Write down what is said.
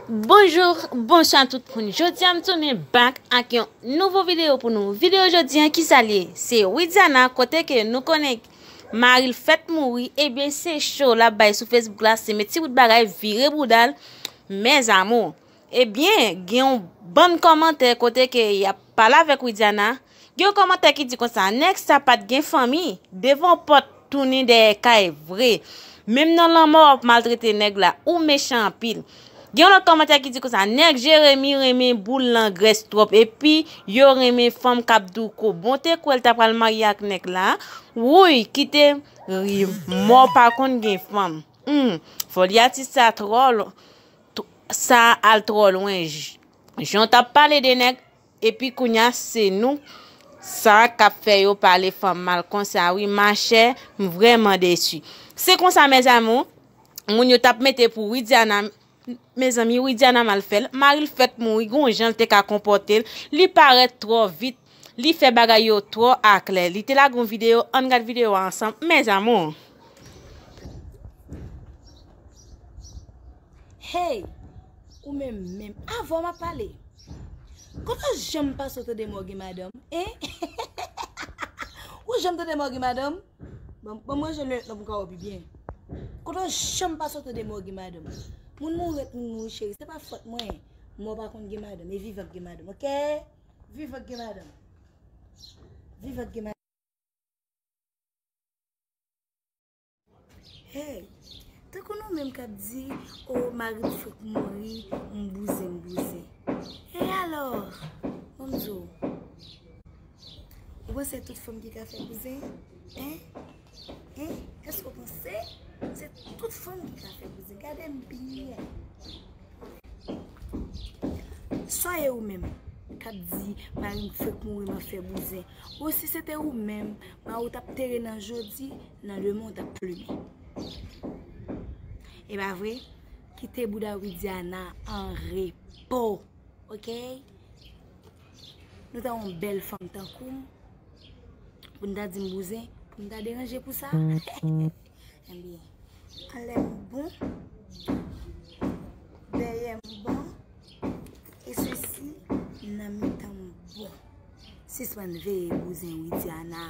Bonjour bonswa tout moun jodia m tounen back ak yon nouvo video pou nou video jodia kisa liye se widiana kote ke nou konnen maril fèt mouri ebyen se cho lap bay sou facebook la se met ti bout bagay vire boudal mes amour ebyen gen yon bann komantè kote ke yap pale avèk widiana Gen yon kòmantè ki di konsa, nèg sa pat gen fanmi, devan pòt tounin dèyè kay vre. Menm nan lanmò wap maltrete nèg la, ou mechan anpil. Gen yon lòt kòmantè ki di konsa, nèg Jeremi renmen boul langrès twòp epi yo renmen fanm kap douko. Bon te kwèl ta pral marye ak nèg la, wouyy kite rim mò pa konn gen fanm. Humm foli atis sa trò sa al trò lwen jan w tap pale de nèg Epi kounya se nou sa kap fè yo pale fanm mal konsa wi machè m vrèman desu se konsa mes amours moun yo tap mete pou widiana mezanmi widiana mal fèl maril fèk mouri gon janl te ka konpòtel li parèt trò vit li fè bagay yo trò aklè li te lage yon video ann gad video a ansanm mes amours. Hey ou menm menm avèw map pale. Koman janm pa so tande mò gen madanm hein ou janm tande mò gen madanm banm ranje lunette lan poum ka wè pi byen kote ou janm pa so tande mò gen madanm moun mouri ret moun mouri cheri se pa fòt mwen mò pa konn gen madanm e vivan ki gen madanm ok vivan ki gen madanm vivan ki gen madanm. Hey! Tankou nou menm kap di oh marim fek mouri m bouzen m bouzen e alò bon m di w ou panse se tout fanm ki ka fè bouzen hein hein èske w panse se tout fanm ki ka fè bouzen gade m byen sa e ou menm kap di marim fek mouri m ap fè bouzen oh si se te ou menm marim tap tere nan jodi Nan le monde ap plumen. E pa vre? Kite bouda Widiana an repo ok. Nou ta yon bèl fanm tankoum pou nou ta dim bouzen pou nou ta deranje pou sa? Ebyen anlèm bon dèyèm bon e sesi nan mitanm bon. Sispann veye bouzen Widiana.